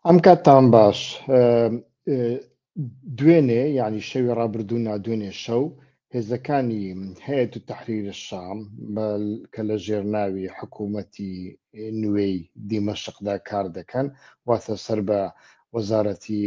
ئەم کاتتان باش دوێنێ ینی شەوی ڕابردوو نادوێنێ شەو هێزەکانی هەیە و تحریرە شام کە لە ژێرناوی حکوومەتی نوێی دیمەشقدا کار دەکەن واتە سەر بە وەزارەتی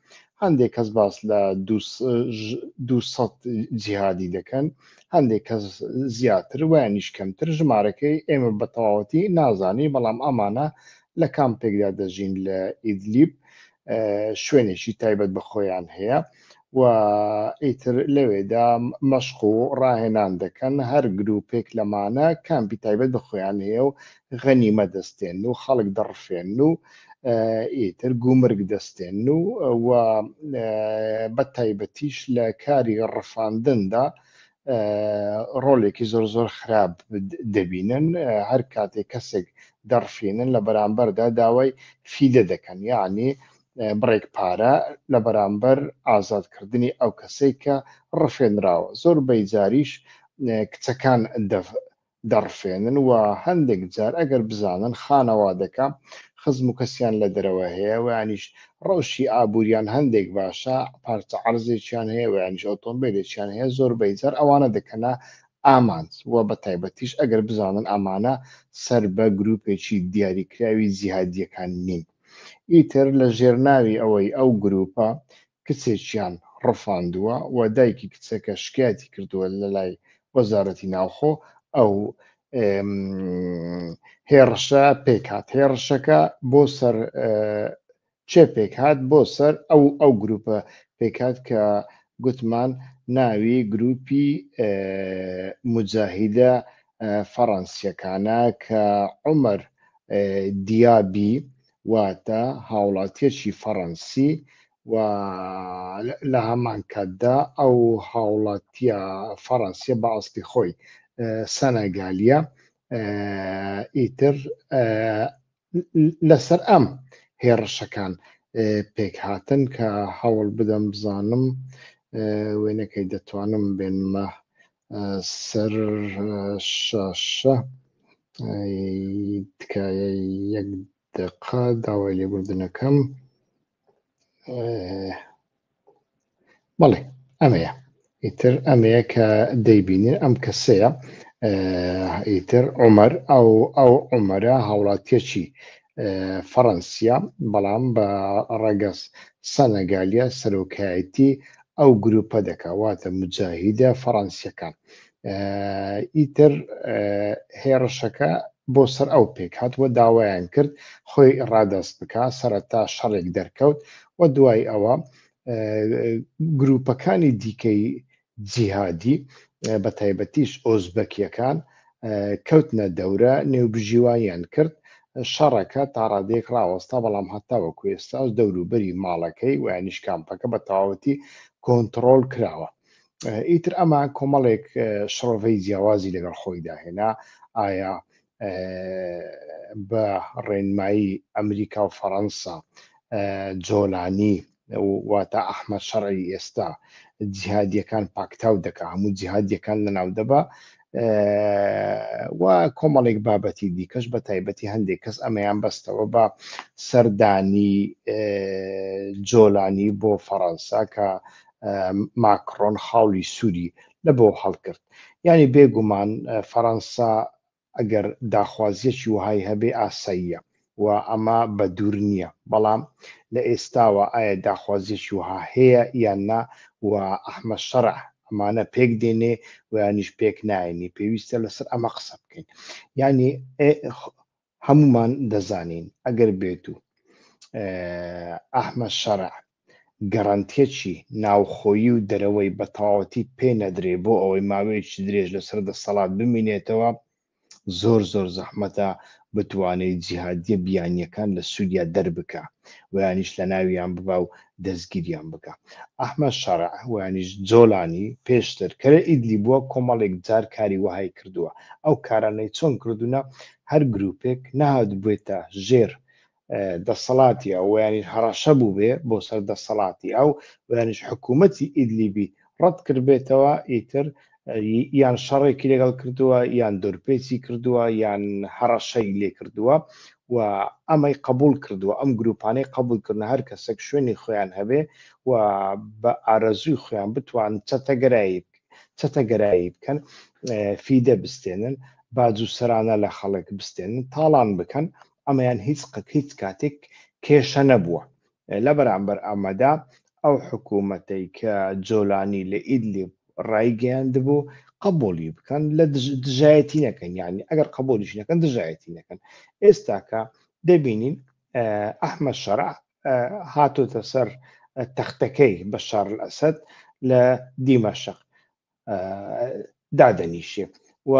هەندێک کەس باس لە دو سەد جیهادی دەکەن هەندێک کەس زیاتر وایانیش کەمتر ژمارەکەی ئێمە بە تەواوەتی نازانی بەڵام ئەمانە لە کام پێکدا دەژین لە ئیدلیب شوێنێکی تایبەت بە خۆیان هەیە و ئیتر لەوێدا مەشق و ڕاهێنان دەکەن هەر گروپێک لەمانە کامپی تایبەت بە خۆیان هەیە و غەنیمە دەستێن و خەڵک دەڕفێن و ئیتر گومرگ دەستێن و و بە تایبەتیش لە کاری ڕفاندندا ڕۆلێکی زۆر زۆر خراپ دەبینن هەر کاتێک کەسێک دەڕفینن لە بەرامبەردا داوای فیدە دەکەن یعنی بڕێک پارە لە بەرامبەر ئازادکردنی ئەو کەسێک کە ڕفێنراوە زۆر بەیجاریش کچەکان دەڕفێنن و هەندێک جار ئەگەر بزانن خانەوادەکە خزم و کەسیان لە دەرەوە هەیە ویانیش ڕەوشی ئابووریان هەندێک باشە پارچە عەرزێکیان هەیە ویانیش ئۆتۆمبیلێکیان هەیە زۆربەی جار ئەوانە دەکەنە ئامانج و بە تایبەتیش ئەگەر بزانن ئەمانە سەر بە گروپێکی دیاریکراوی جیهادیەکان نین ئیتر لە ژێرناوی ئەوەی ئەو گروپە کچێکیان ڕفاندووە و دایکی کچەکە شکایەتی کردووە لەلای وەزارەتی ناوخۆ ئەو هێڕشە پێکات هێڕشەکە بۆ سەر چێ پێکات بۆ سەر ئەو ئەو گروپە پێکات کە گوتمان ناوی گروپی مجاهیدە فەڕەنسیەکانە کە عمر دیابی واتە هاوڵاتیەکی فەڕەنسی و لە هەمان کاتدا ئەو هاوڵاتیە فەڕەنسیە بە ئەستی خۆی سەنەگالیە ئیتر لەسەر ئەم هێڕشەکان پێک هاتن کە هەوڵ بدەم بزانم وێنەکەی دەتوانم بێنمە سەر شاشە تکایە یەک دقا داوای لێبوردنەکەم بەڵێ ئەمەیە ئیتر ئەمەیە کە دەیبینین ئەم کەسەیە ئیتر عمر ئەو ئەو عمرە هاوڵاتیەکی فەڕەنسیا بەڵام بە ڕەگەز سەنەگالیە سەرۆکایەتی ئەو گروپە دەکا واتە مجاهیدە فەڕەنسیەکان ئیتر هێڕشەکە بۆ سەر ئەو پێک هاتووە داوایان کرد خۆی ڕادەست بکە سەرەتا شەڕێک دەرکەوت و دوای ئەوە گروپەکانی دیکەی جیهادی بە تایبەتیش ئۆزبەکیەکان کەوتنە دەورە نێوبژیوانیان کرد، شەڕەکە تاڕادەیەک ڕاوەستا، بەڵام هەتاوەکو ئێستاش دەوروبەری ماڵەکەی و یانیش کامپەکە بە تەواوەتی کۆنتڕۆڵ کراوە. ئیتر ئەمە کۆمەڵێک شڕۆڤەی جیاوازی لەگەڵ خۆی داهێنا، ئایا بە ڕێنمایی ئەمریکا و فەڕەنسا جۆلانی واتە ئەحمەد شەڕعی ئێستا جیهادیەکان پاکتاو دەکا هەموو جیهادیەکان لەناو دەبا و کۆمەڵێک بابەتی دیکەش بە تایبەتی هەندێک کەس ئەمەیان بەستەوە بە سەردانی جۆلانی بۆ فەڕەنسا کە ماکڕۆن خاڵی سووری لە بۆ هەڵکرد یعنی بێگومان فەڕەنسا ئەگەر داخوازییەکی وەهای هەبێ ئاساییە و ئەمە بە دوور نییە، بەڵام لە ئێستاوە ئایا داخوازییەکی وەها هەیە یان نا و ئەحمەد شەرع ئەمانە پێک دێنێ و یانیش پێک نایێنێ، پێویستە لەسەر ئەمە قسە بکەین. یانی هەموومان دەزانین ئەگەر بێتوو ئەحمەد شەرع گەرەنتیەکی ناوخۆیی و دەرەوەی بە تەواوەتی پێ نەدرێ بۆ ئەوەی ماوەیەکی درێژ لەسەر دەسەڵات بمینێتەوە زۆر زۆر زەحمەتە بتوانێت جیهادیە بیانیەکان لە سوریا دەربکا ویانیش لە ناویان ببا و دەستگیریان بکە ئەحمە شەرع ویانیش جۆلانی پێشتر کەرە ئیدلی بووە کۆمەڵێک جار کاری وهای کردووە ئەو کارانەی چۆن کردوونە هەر گروپێک نەهات بێتە ژێر دەسەڵاتی ئەو یانیش هەڕەشە بووبێ بۆ سەر دەسەڵاتی ئەو یانیش حکوومەتی ئیدلیبی ڕەت کردبێتەوە ئیتر یان شەڕێکی لەگەڵ کردووە یان دورپێچی کردووە یان هەڕەشەی لێ کردووە و ئەمەی قبول کردووە ئەم گروپانەی قبول کردن هەر کەسێک شوێنی خۆیان هەبێ و بە ئارەزووی خۆیان بتوان چەتەگەرایی چەتەگەرایی بکەن فیدە بستێنن باج و سەرانە لە خەڵک بستێنن تاڵان بکەن ئەمەیان هیچ هیچ کاتێک کێشە نەبووە لە بەرامبەر ئەمەدا ئەو حکوومەتەی کە جۆلانی لە ئیدلیب ڕایگەیاندبوو قبولی بکەن لە دژایەتی نەکەن یعنی ئەگەر قبولیش نەکەن دژایەتی نەکەن ئێستاکە دەبینین ئەحمە شەرع هاتۆتە سەر تەختەکەی بە شار ئەسد لە دیمەشق دادەنیشێت و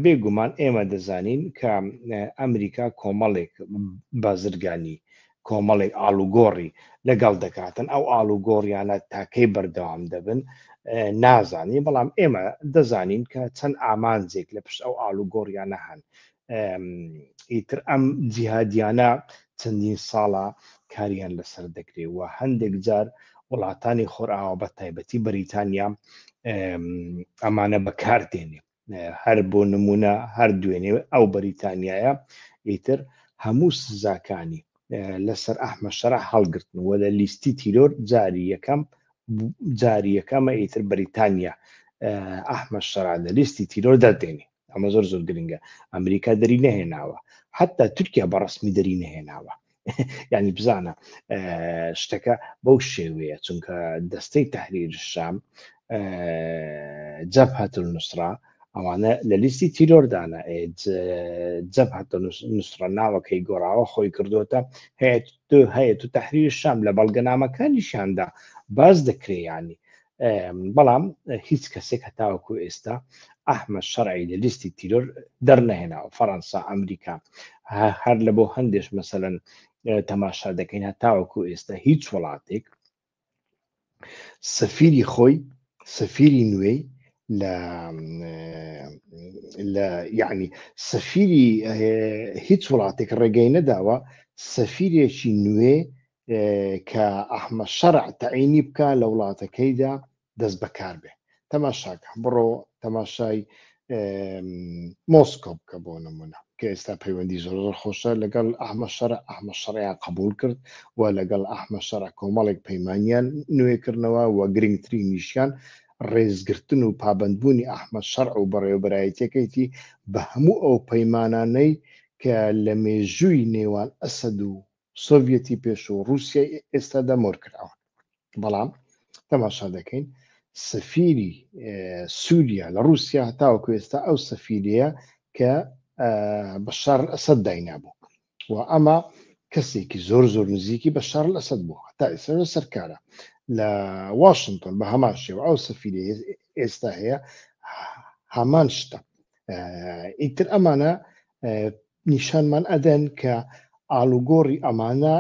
بێگومان ئێمە دەزانین کە ئەمریکا کۆمەڵێک بازرگانی کۆمەڵێک ئالوگۆڕی لەگەڵ دەکاتن ئەو ئالوگۆڕیانە تاکەی بەردەوام دەبن نازانی بەڵام ئێمە دەزانین کە چەند ئامانجێک لە پشت ئەو ئالوگۆڕیانە هەن ئیتر ئەم جیهادیانە چەندین ساڵە کاریان لەسەر دەکرێ و هەندێک جار وڵاتانی خۆرئاوا بە تایبەتی بەریتانیا ئەمانە بەکار دێنێ هەر بۆ نمونە هەر دوێنێ ئەو بەریتانیایە ئیتر هەموو سزاکانی لەسەر ئەحمە شەرع هەڵگرتن و لە لیستی تیرۆر جاری یەکەم جاری یەکەمە ئیتر بەریتانیا ئەحمە شەرع لە لیستی تیرۆر دەردێنی ئەمە زۆر زۆر گرنگە ئەمریکا دەری نەهێناوە حتا تورکیا بە ڕسمی دەری نەهێناوە ینی بزانە شتەکە بەو شێوەیە چونکە دەستەی تحریر شام جەب هاتل نووسرا ئەوانە لە لیستی تیرۆردانە جەب هاتە نووسرە ناوەکەی گۆڕاوە خۆی کردوتە هەیە تو تحریر شام لە بەڵگەنامەکانیشاندا باز دەکرێیانی بەڵام هیچ کەسێک هەتاوەکو ئێستا ئەحمە شەرعی لە لیستی تیرۆر دەرنەهێناوە فەەنسا ئەمریکا هەر لە بۆ هەندێش مەسەەن تەماشا دەکەین هەتاوەکو ئێستا هیچ وڵاتێک سەفیری خۆی سەفیری نوێی لە لە یعنی سەفیری هیچ وڵاتێک ڕێگەی نەداوە سەفیرێکی نوێ کە ئەحمە شەرع تەعینی بکە لە وڵاتەکەیدا دەست بەکار بێ تەماشاکە بڕۆ تەماشای مۆسکۆ بکە بۆ نمونە کە ئێستا پەیوەندی زۆر خۆشە لەگەڵ ئەحمە شەر ئەحمە شەڕیان قبول کرد و لەگەڵ ئەحمە شەر کۆمەڵێک پەیمانیان نوێکردنەوە و گرنگتری نیشیان ڕێزگرتن و پابندبوونی ئەحمە شەر و بەڕێوبەرایەتەکەیتی بە هەموو ئەو پەیمانانەی کە لە مێژووی نێوان ئەسەد و سۆڤیەتی پێشوو و ڕووسیای ئێستادا مۆر کراوە بەڵام تەماشا دەکەین سەفیری سووریا لە ڕووسیا هەتاوەکو ئێستا ئەو سەفیرەیە کە بە شار ئەسەد داینابوو و ئەمە کەسێکی زۆر زۆر نزیکی بە شار ئەسەد بوو هەتا ئێستا سەرکارە لە واشنگتۆن بە هەمان شێوە ئەو سەفیری ئێستا هەیە هەمان شتە ئیتر ئەمانە نیشانمان ئەدەن کە ئاڵوگۆڕی ئەمانە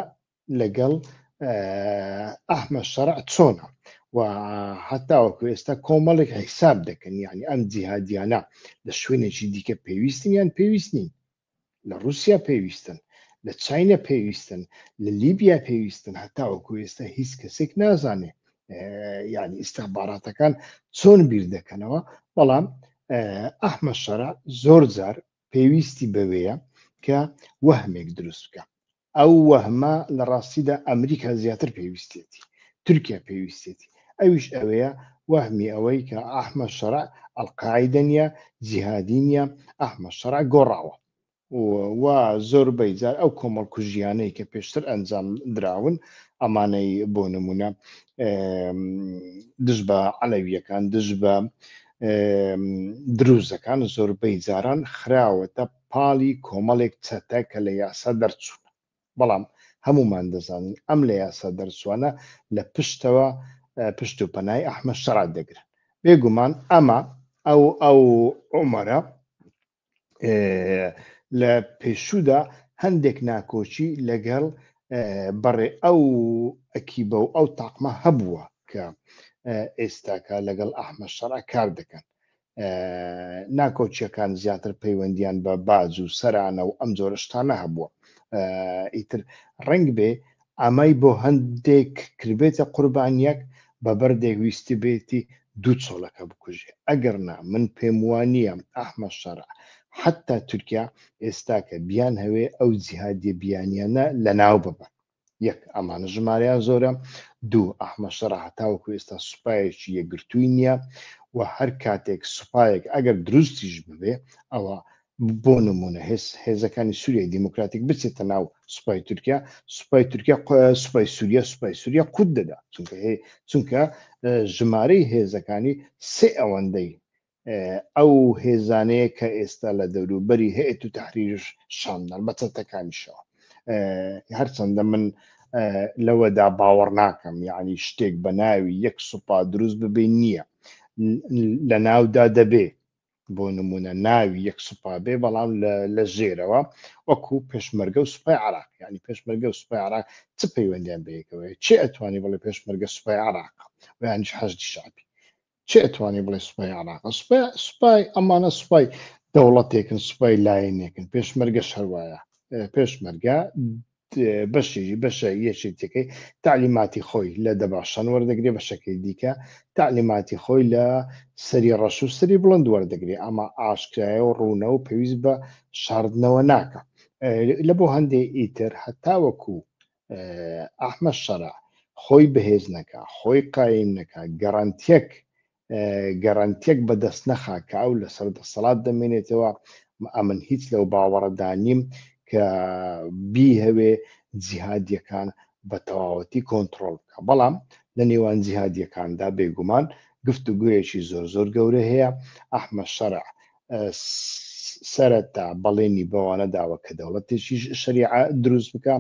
لەگەڵ ئەحمە شەرع چۆنە و هەتاوەکو ئێستا کۆمەڵێک حیساب دەکەن یعنی ئەم جیهادیانە لە شوێنێکی دیکە پێویستن یان پێویست نین لە رووسیا پێویستن لە چینە پێویستن لە لیبیا پێویستن هەتاوەکو ئێستا هیچ کەسێک نازانێ یعنی ئیسستانباراتەکان چۆن بیر دەکەنەوە بەڵام ئەحمە شەرع زۆر جار پێویستی بەوەیە کە وەهمێک دروست بکا ئەو وەهمە لە ڕاستیدا ئەمریکا زیاتر پێویستێتی تورکیا پێویستێتی ئەویش ئەوەیە وەهمی ئەوەی کە ئەحمە شەرع ئەلقاعدە نیە جیهادی نیە ئەحمە شەرع گۆڕاوە و زۆربەی جار ئەو کۆمەڵ کوژیانەی کە پێشتر ئەنجام دراون ئەمانەی بۆ نمونە دژ بە عەلەویەکان دژ بە دروزەکان زۆربەی جاران خراوەتە پاڵی کۆمەڵێک چەتە کە لە یاسا دەرچوون بەڵام هەمومان دەزانین ئەم لە یاسا دەرچوانە لە پشتەوە پشت و پەنای ئەحمە شەرات دەگرن بێگومان ئەمە ئەو ئەو عمەرە لە پێشوودا هەندێک ناکۆچی لەگەڵ بەڕێ ئەو ئەکیبە و ئەو تاقمە هەبووە کە ئێستاکە لەگەڵ ئەحمە شەڕ کار دەکەن ناکۆچیەکان زیاتر پەیوەندیان بە باج و سەرانە و ئەم جۆرە شتانە هەبووە ئیتر ڕنگ بێ ئەمەی بۆ هەندێک کردبێتە قوربانییەک، بە بەردێک ویستبێتی دوو چۆلەکە بکوژێ، ئەگەر نا من پێم وا نییە ئەحمەد شەرع، حەتتا تورکیا ئێستاکە بیانهەوێ ئەو جیهادییە بیانییانە لەناو ببەن. یەک، ئەمانە ژمارەیان زۆرە، دوو، ئەحمەد شەرع هەتاوەکو ئێستا سوپایەکی یەکگرتووی نییە و هەر کاتێک سوپایەک ئەگەر دروستیش ببێ، ئەوا بۆ نموونە هێز هێزەکانی سووریای دیموکراتیک بچێتە ناو سوپای تورکیا سوپای تورکیا سوپای سووریا سوپای سووریا قوت دەدا چونکە هەیە چونکە ژمارەی هێزەکانی سێ ئەوەندەی ئەو هێزانەیە کە ئێستا لە دەوروبەری هەیەت و تحریش شامدان بە چەتەکانیشەوە هەرچەندە من لەوەدا باوەڕ ناکەم یعنی شتێک بە ناوی یەک سوپا دروست ببێ نییە لە ناودا دەبێ بۆ نمونە ناوی یەک سوپا بێ بەڵام لە ژێرەوە وەکو پێشمەرگە و سوپای عراق ینی پێشمەرگە و سوپای عراق چ پەیوەندیان بەیەکەوەی چێ ئەتوانی بڵێ پێشمەرگە سوپای عراق ویانش حەشدی شعبی چێ ئەتوانی بڵێ سوپای عراق سوپای سوپای ئەمانە سوپای دەوڵەتێکن سوپای لایەنێکن پێشمەرگە شەروایە پێشمەرگە بەشی بەشە یەکێتیەکەی تەعلیماتی خۆی لە دەباشان وەردەگرێ بەشەکەی دیکە تەعلیماتی خۆی لە سەری ڕەش و سەری بڵند وەردەگرێ ئەمە ئاشکرایە و ڕوونە و پێویست بە شاردنەوە ناکە لە بۆ هەندێ ئیتر هەتاوەکو ئەحمە شەرع خۆی بەهێز نەکە خۆی قایم نەکە گەڕانتیەک گەرەنتیەک بەدەست نەخا کە ئەو لەسەر دەسەڵات دەمێنێتەوە ئەمن هیچ لەو باوەڕەدا نیم کە بیهەوێ جیهادیەکان بە تەواوەتی کۆنتترۆل بکە بەڵام لە نێوان جیهادیەکاندا بێگومان گفتوگویەکی زۆر زۆر گەورە هەیە ئەحمە شەرع سەرەتا بەڵێنی بەوانە داوە کە دەوڵەتێکی شەریعە دروست بکە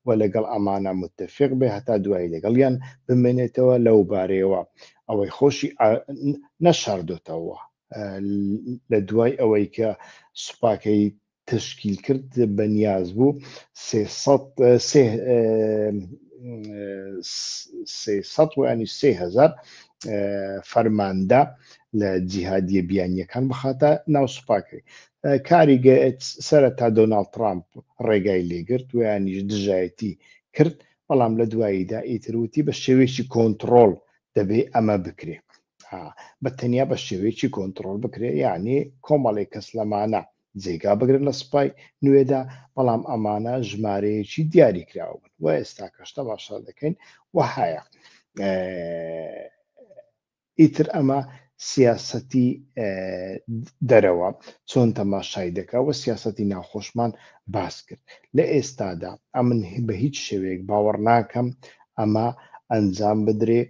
و لەگەڵ ئەمانە متفق بێ هەتا دوایی لەگەڵیان بمێنێتەوە لەو بارەیەوە ئەوەی خۆشی نەشاردۆتەوە لە دوای ئەوەی کە سوپاکەی تەشکیل کرد بە نیاز بوو سێ سەد سێ سێ سەد و ینی سێ هەزار فەرماندە لە جیهادیە بیانیەکان بخاتە ناو سوپاکەی کاری سرە تا دۆناالد ترامپ ڕێگای لێگرت ویانیش دژایەتی کرد بەڵام لە دواییدا ئیتروتی بە شێوێکی کۆنتترۆل دەبێ ئەمە بکرێت بە تەنیا بە شێوێکی کۆنتترۆل بکرێت یعنی کۆمەڵی کەس لەمانە جێگا بگرن لە سوپای نوێدا، بەڵام ئەمانە ژمارەیەکی دیاری کراو بن و ئێستاکەش تەماشا دەکەین وەهایە. ئیتر ئەمە سیاسەتی دەرەوە چۆن تەماشای دەکە و سیاسەتی ناوخۆشمان باس کرد لە ئێستادا ئەمن بە هیچ شێوەیەک باوەڕ ناکەم ئەمە ئەنجام بدرێ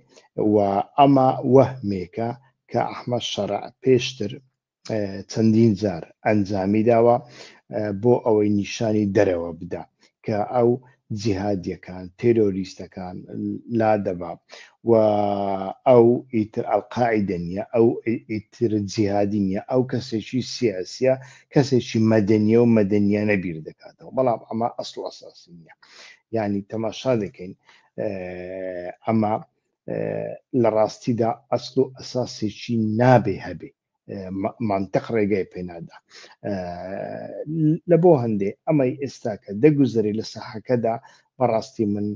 و ئەمە وەهمێکە کە ئەحمە شەرع پێشتر چەندین جار ئەنجامی داوە بۆ ئەوەی نیشانی دەرەوە بدا کە ئەو جیهادیەکان تێرۆریستەکان لا دەبا و ئەو ئیتر ئەلقاعدە نیە ئەو ئیتر جیهادی نیە ئەو کەسێکی سیاسە کەسێکی مەدەنیە و مەدەنیانە بیر دەکاتەوە بەڵام ئەمە ئەسڵ ئەساسی نیە ینی تەماشا دەکەین ئەمە لەڕاستیدا ئەسڵ و ئەساسێکی نابێ هەبێ مانتەق ڕێگای پێنادا لە بۆ هەندێ ئەمەی ئێستاکە دەگوزەری لە ساحەکەدا بەڕاستی من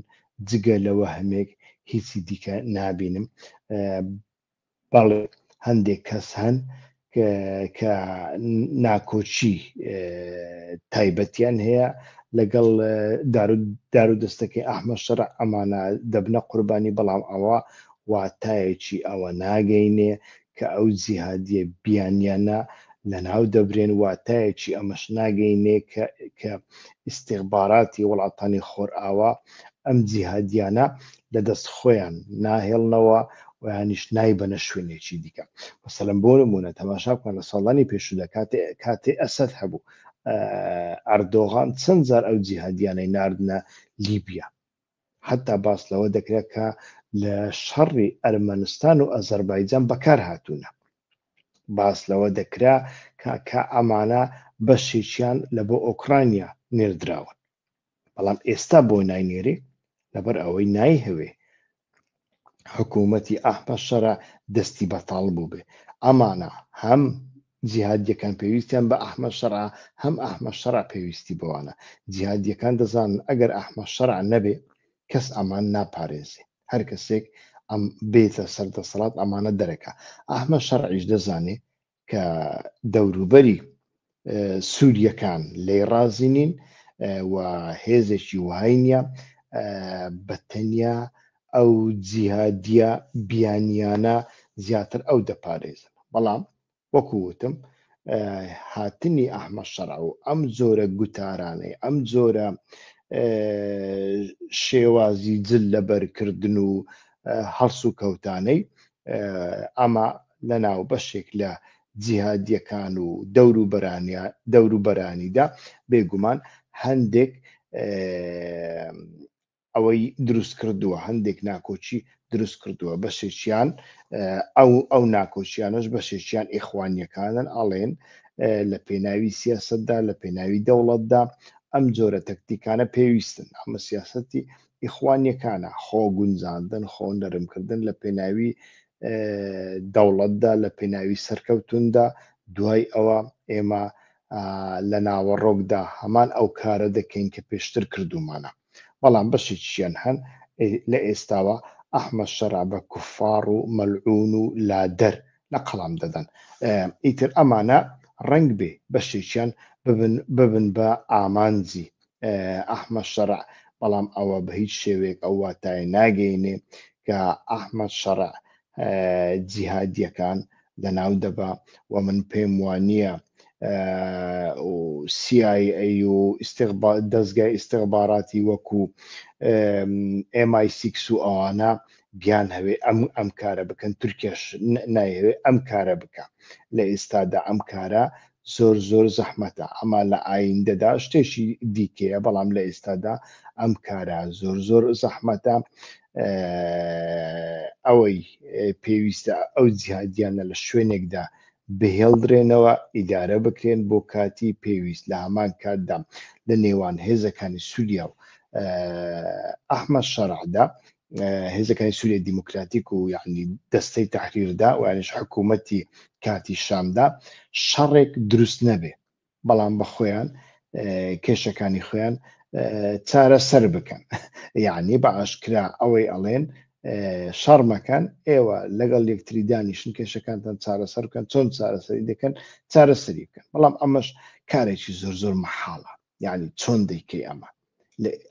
جگە لەوە هەمێک هیچی دیکە نابینم بەڵێ هەندێک کەس هەن کە ناکۆکی تایبەتیان هەیە لەگەڵ دار و دەستەکەی ئەحمە شەرع ئەمانە دەبنە قوربانی بەڵام ئەوە واتایەکی ئەوە ناگەینێ کە ئەو جیهادیە بیانیانە لەناو دەبرێن واتایەکی ئەمەش ناگەینێ کە ئیسیغباراتی وڵاتانی خۆرئاوا ئەم جیهادیانە لە دەست خۆیان ناهێڵنەوە و یانیش نایبەنە شوێنێکی دیکە مەسەلەن بۆ نمونە تەماشا بکەن لە ساڵانی پێشودا کاتێ کاتێ ئەسەد هەبوو ئەردۆغان چەند جار ئەو جیهادیانەی نردە لیبیا حتا باس لەوە دەکرێت کە لە شەڕی ئەرمەنستان و ئەزەربایجان بەکار هاتوونە باس لەوە دەکرا کە ئەمانە بەشێکیان لە بۆ ئۆکرانیا نێردراون بەڵام ئێستا بۆ ناینێرێ لەبەر ئەوەی نایهەوێ حکوومەتی ئەحمە شەرع دەستی بەتاڵ بوو بێ ئەمانە هەم جیهادیەکان پێویستیان بە ئەحمە شەرع هەم ئەحمە شەرع پێویستی بەوانە جیهادیەکان دەزانن ئەگەر ئەحمە شەرع نەبێ کەس ئەمان ناپارێزێ هەر کەسێک ئەم بێتە سەر دەسەڵات ئەمانە دەرەکە ئەحمە شەرعیش دەزانێ کە دەوروبەری سووریەکان لی ڕازی نین و هێزێکی وهای نیە بە تەنیا ئەو جیهادیە بیانیانە زیاتر ئەو دەپارێزن بەڵام وەکووتم هاتنی ئەحمە شەڕ و ئەم جۆرە گوتارانەی ئەم جۆرە شێوازی جل لەبەرکردن و هەڵس و کەوتانەی ئەمە لە ناو بەشێک لە جیهادیەکان و دەوروبەرانیا دەوروبەرانیدا بێگومان هەندێک ئەوەی دروست کردووە هەندێک ناکۆچی دروست کردووە بەشێکیان ئەو ئەو ناکۆچیانەش بەشێکیان ئێخوانیەکانن ئەڵێن لە پێناوی سیاستدا لە پێناوی دەوڵەتدا ئەم جۆرە تەکتیکانە پێویستن ئەمە سیاستی ئیخوانیەکانە، خۆ گونجاندن، خۆ نەرم کردن لە پێناوی دەوڵەتدا، لە پێناوی سەرکەوتوندا، دوای ئەوە ئێمە لە ناوەڕۆکدا هەمان ئەو کارە دەکەین کە پێشتر کردومانە، بەڵام بەشێکیشیان هەن لە ئێستاوە ئەحمەد شەرع بە کوفاڕ و مەلعون و لادەر لە قەڵەم دەدەن ئیتر ئەمانە ڕەنگ بێ بەشێکیان ببن بە ئامانجی ئەحمەد شەرع بەڵام ئەوە بە هیچ شێوەیەک ئەو واتای ناگەینێ کە ئەحمەد شەرع جیهادیەکان لەناو دەبا و من پێم وانە CIA و دەستگای ئیسیغباراتی وەکو MI6 و ئەوانە بیانهەوێ ئەم ئەم کارە بکەن تورکیاش نایەوێ ئەم کارە بکە لە ئێستادا ئەم کارە زۆر زۆر زەحمەتە ئەما لە ئایندەدا شتێکی دیکەیە بەڵام لە ئێستادا ئەم کارە زۆر زۆر زەحمەتە ئەوەی پێویستە ئەو جیهادیانە لە شوێنێکدا بهێڵدرێنەوە ئیدارە بکرێن بۆ کاتی پێویست لە هەمان کاتدا لە نێوان هێزەکانی سووریا و ئەحمە شەرعدا هێزەکانی سووریای دیموکراتیک و یعنی دەستەی تەحریردا و یانیش حکوومەتی کاتی شامدا شەڕێک دروست نەبێ بەڵام بە خۆیان کێشەکانی خۆیان چارە سەر بکەن یعنی بە ئاشکرا ئەوەی ئەڵێن شەڕمەکەن ئێوە لەگەڵ یەکتری دانیشن کێشەکانتان چارەسەر بکەن چۆن چارەسەری دەکەن چارەسەری بکەن بەڵام ئەمەش کارێکی زۆر زۆر مەحاڵە یعنی چۆن دەیکەی ئەمە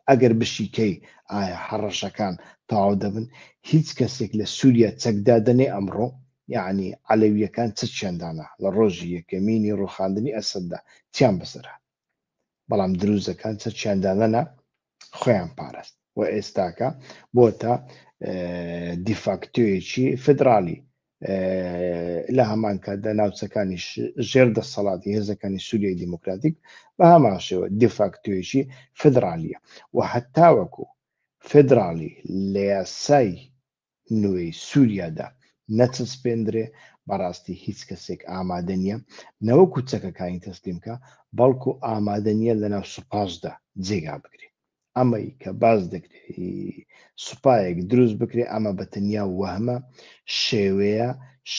ئەگەر بشیکەی ئایا هەڕەشەکان تەواو دەبن هیچ کەسێک لە سوریا چەک دادەنێ ئەمڕۆ یەعنی عەلەویەکان چ چیان دانا لە ڕۆژی یەکەمینی ڕوخاندنی ئەسەددا چیان بەسەر هات بەڵام دروزەکان چە چیان دانەنا خۆیان پارست و ئێستاکە بۆتە دیفاکتۆیەکی فدرالی لە هەمان کاتدا ناوچەکانی ژێر دەسەڵاتی هێزەکانی سووریای دیموکراتیک بە هەمان شێوە دیفاکتۆیەکی فدرالیە و هەتاوەکو فدرالی لە یاسای نوێی سووریادا نەچەسپێندرێ بەڕاستی هیچ کەسێک ئامادە نییە نەوە کوچەکەکانی تەسلیمکە بەڵکو ئامادە نییە لەناو سوپاشدا جێگا بگرێت ئەمەی کە باز دەکرێت سوپایەک دروست بکرێت ئەمە بە تەنیا وەهمە شێوەیە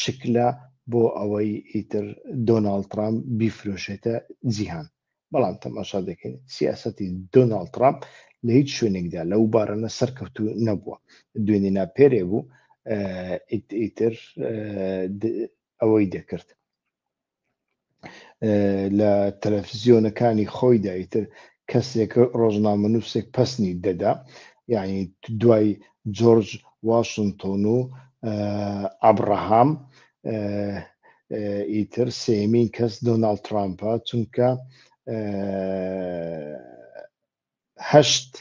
شکلە بۆ ئەوەی ئیتر دۆناڵ ترامپ بیفرۆشێتە جیهان بەڵام تەماشا دەکەین سیاستی دۆناڵ ترامپ لە هیچ شوێنێکدا لەو بارەنە سەرکەوتو نەبووە دوێنێ ناپێرێ بوو ئیتر ئەوەی دەکرد لە تەلەفزیۆنەکانی خۆیدا ئیتر کەسێک ڕۆژنامەنووسێک پسنی دەدا یعنی دوای جۆرج واشنتۆن و ئابراهام ئیتر سێمین کەس دۆناالد ترامپە چونکە هەشت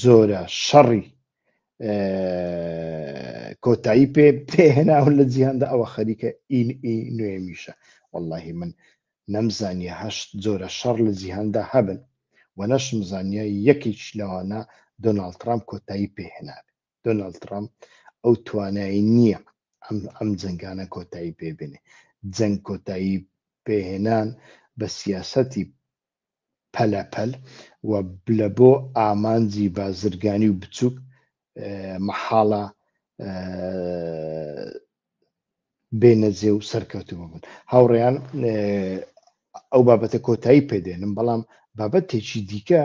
جۆرە شەڕی کۆتایی پێ پێهێناون لە جیهاندا ئەوە خەریکە ئین ئی نوێمیشە واللهی من نەمزانیە هەشت جۆرە شەڕ لە جیهاندا هەبن و نەشم زانیە یەکیش لەوانە دۆناالد ترامپ کۆتایی پێهێنابێت دۆناڵد تڕامپ ئەو توانای نییە ئەم جەنگانە کۆتایی پێ بێنێ جەنگ کۆتایی پێهێنان بە سیاسەتی پەلەپەل و لە بۆ ئامانجی بازرگانی و بچووک مەحاڵە بێنە جێ و سەرکەوتوو ببن هاوڕێیان ئەو بابەتە کۆتایی پێدێنم بەڵام بابەتێکی دیکە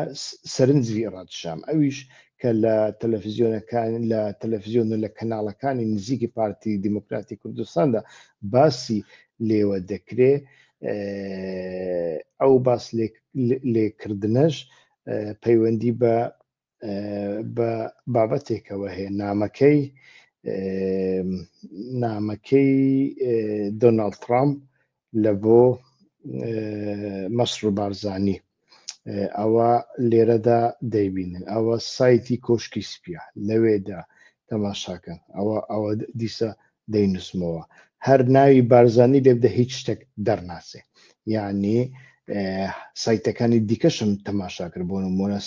سەرنجی ڕادشام ئەویش کە لە تەلەفزیۆنەکان لە تەلەفزیۆن و لە کەناڵەکانی نزیکی پارتی دیموکراتی کوردستاندا باسی لێوە دەکرێ ئەو باس لێکردنەش پەیوەندی بە بە بابەتێکەوە هەیە نامەکەی نامەکەی دۆناڵد ترامپ لە بۆ مەسر و بارزانانی ئەوە لێرەدا دەیبینن ئەوە سایتی کۆشکی سپیە لەوێدا تەماشاکەن ئەوە ئەوە دیسە دەینوسمەوە هەر ناوی بارزانی لێبدە هیچ شتێک دەرناچێ یعنی سایتەکانی دیکەشم تەماشاکرد بۆ نمونە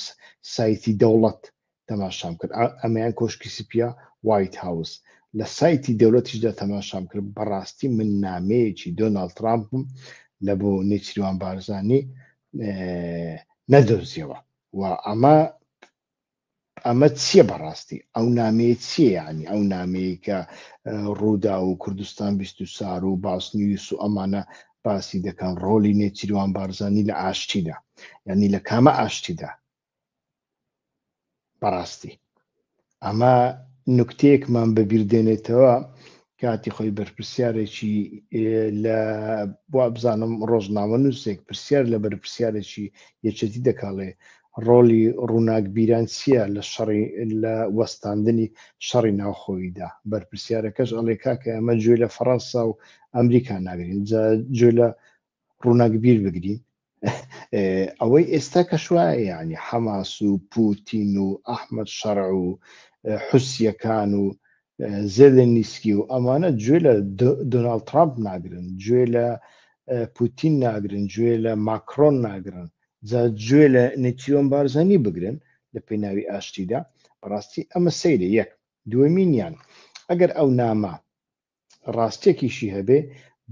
سایتی دەوڵەت تەماشام کرد ئەمەیان کۆشکی سپیا وایت هاوس لە سایتی دەولەتیشدا تەماشام کرد بەڕاستی من نامەیەکی دۆناالد ترامپم لە بۆ نێچریوان بارزانانی نەدۆزیەوە و ئەمە ئەمە چیە بەڕاستی ئەو نامەیە چیە یعنی ئەو نامەیە کە ڕوودا و کوردستان بیست و سار و باسنیوس و ئەمانە باسی دەکەن ڕۆلی نێچیروان بارزانانی لە ئاشتیدا یعنی لە کامە ئاشتیدا بەڕاستی ئەمە نکتەیەکمان بەبیردێنێتەوە کاتی خۆی بەرپرسیارێکی لە وابزانم ڕۆژنامە نووسێک پرسیار لە بەرپرسیارێکی یەکێتی دەکاڵێ ڕۆلی ڕووناکبیران چییە لە شەڕی لە وەستاندنی شەڕی ناوخۆییدا بەرپرسیارەکەش ئەڵێ کاکە ئەمە گوێ لە فەڕەنسا و ئەمریکا ناگرین جا گوێ لە ڕووناکبیر بگرین ئەوەی ئێستا کە شوایە ینی حەماس و پوتین و ئەحمد شەڕ و حوسیەکان و زێلێن نیسکی و ئەمانە گوێ لە دۆناالد ترامپ ناگرن گوێ لە پوتین ناگرن گوێ لە ماکرۆن ناگرن جا گوێ لە نتیۆن بارزانانی بگرن لە پێی ناوی ئاشتیدا بەڕاستی ئەمە سەیرە یەک دووەمینیان ئەگەر ئەو نامە ڕاستیەکیشی هەبێ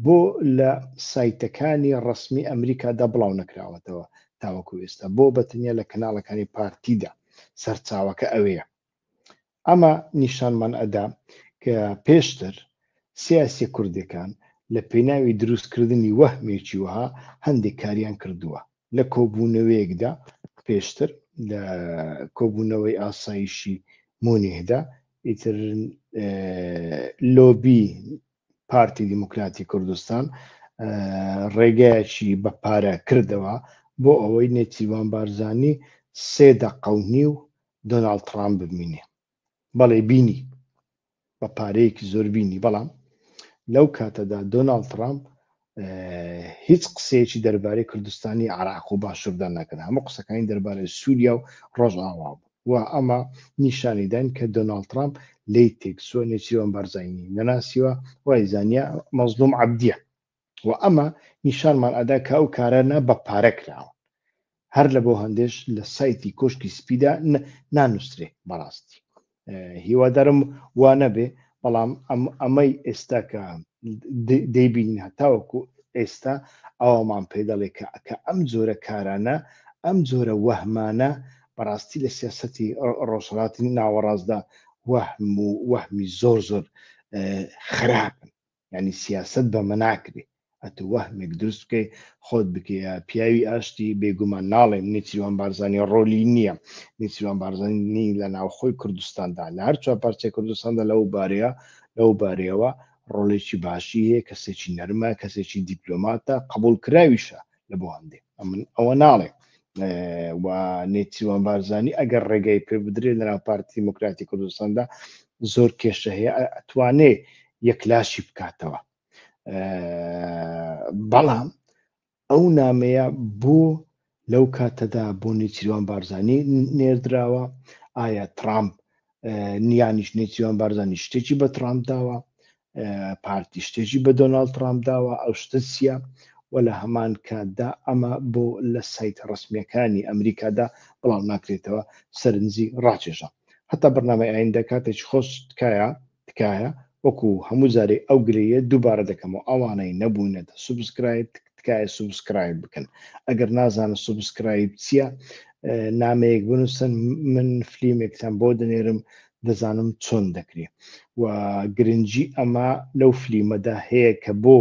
بۆ لە سایتەکانی ڕەسمی ئەمریکادا بڵاو نەکراوەتەوە تاوەکو ئێستا بۆ بەتەنیا لە کەناڵەکانی پارتیدا سەرچاوەکە ئەوەیە ئەمە نیشانمان ئەدا کە پێشتر سیاسی کوردەکان لە پێناوی دروستکردنی وەهمێکی وەها هەندێک کاریان کردووە لە کۆبوونەوەیەکدا پێشتر لە کۆبوونەوەی ئاسایشی مونیهدا ئیتر لۆبی پارتی دیموکراتی کوردستان ڕێگایەکی بە پارە کردەوە بۆ ئەوەی نێچیوان بارزانانی سێ دەقەونی و دۆناالد ترامپ ببینێ بەڵێ بینی بە پارەیەکی زۆر بینی بەڵام لەو کاتەدا دۆناڵد ترامپ هیچ قسەیەکی دەربارەی کوردستانی عراق و باشوردان نەکرد هەموو قسەکانی دەربارەی سووریا و ڕۆژئاوا بوو و ئەمە نیشانیدان کە دۆناڵد ترامپ لی تێکسوە نێچیرۆن بەرزینی نەناسیوە وای زانیا مەزلوم عبدیە وە ئەمە نیشانمان ئەدا کە ئەو کارانە بە پارە کراون هەر لە بۆ هەندێش لە سایتی کۆشکی سپیدا نانووسرێ بەڕاستی هیوادارم وانەبێ بەڵام ئەمەی ئێستا کە دەیبینین هەتاوەکو ئێستا ئەومان پێ دەڵێ کە ئەکە ئەم جۆرە کارانە ئەم جۆرە وەهمانە بەڕاستی لە سیاستی ڕۆژهڵاتی ناوەڕاستدا وەهم و وەهمی زۆر زۆر خراپن یانی سیاسەت بەمە ناکرێ ئەتو وەهمێک دروست بکەی خۆت بکەیە پیاوی ئاشتی بێگومان ناڵێم نیچیروان بارزانانی ڕۆلی نییە نیچیروان بارزانانی لە ناوخۆی کوردستاندا لە هەر چوار پارچەی کوردستاندا لەو بارەیە لەو بارەیەوە ڕۆڵێکی باشی هەیە کەسێکی نەرمە کەسێکی دیپلۆماتە قبولکراویشە لە بۆ هەندێک ئەمن ئەوە ناڵێ و نێچیوان بارزانانی ئەگەر ڕێگەی پێ بدرێت لەنا پارتی دیموکراتی کوردستاندا زۆر کێشە هەیە ئەتوانێ یەکلاشی بکاتەوە بەڵام ئەو نامەیە بۆ لەو کاتەدا بۆ نێچیروان بارزانانی نێردراوە ئایا ترامپ نیانیش نێچیوان بارزانانی شتێکی بە ترامپ داوە پارتی شتێکی بە دۆناالد ترامپ داوە ئەو شتە چییە و لە هەمان کاتدا ئەمە بۆ لە سایت ڕسمیەکانی ئەمریکادا بڵاو ناکرێتەوە سەرنجی ڕاکێشە هەتا بەرنامەی ئاین دەکاتێک خۆش تکایە تکایە وەکو هەموو جارێ ئەو گرەیە دووبارە دەکەمەوە ئەوانەی نەبوونەتە سوبسکرایب تکایە تکایە سوبسکرایب بکەن ئەگەر نازانن سوبسکرایب چییە نامەیەک بنووسن من فلیمێکتان بۆ دەنێرم دەزانم چۆن دەکرێ و گرنگجی ئەمە لەو فلیمەدا هەیە کە بۆ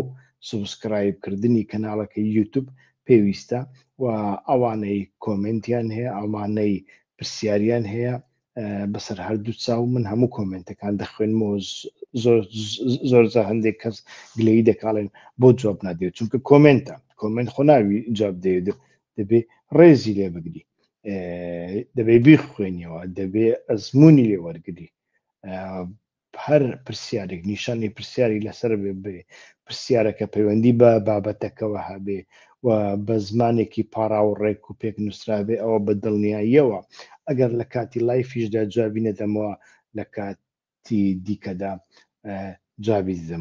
سوبسکرایبکردنی کەناڵەکە یوتوب پێویستە و ئەوانەی کۆمنتیان هەیە ئەمانەی پرسیاریان هەیە بەسەر هەردوو چاو من هەموو کۆمنتەکان دەخوێنمەوە زۆر زە هەندێک کەس گلەی دەکاڵێن بۆ جواب نادێت چونکە کۆمنتە کۆمنت خۆناوی جواب دێت دەبێ ڕێزی لێ بگری دەبێ بیخوێنیەوە دەبێ ئەزمموی لێ وەرگری هەر پرسیارێک نیشانی پرسیاری لەسەر بێ پرسیارەکە پەیوەندی بە بابەتەکەەوە هەبێ و بە زمانێکی پاراو و ڕێک و پێک نووسرابێ ئەوە بە دڵنیاییەوە ئەگەر لە کاتی لایفیشدا جوابی نەدەمەوە لە کاتی دیکەدا جوابی دەدەمەوە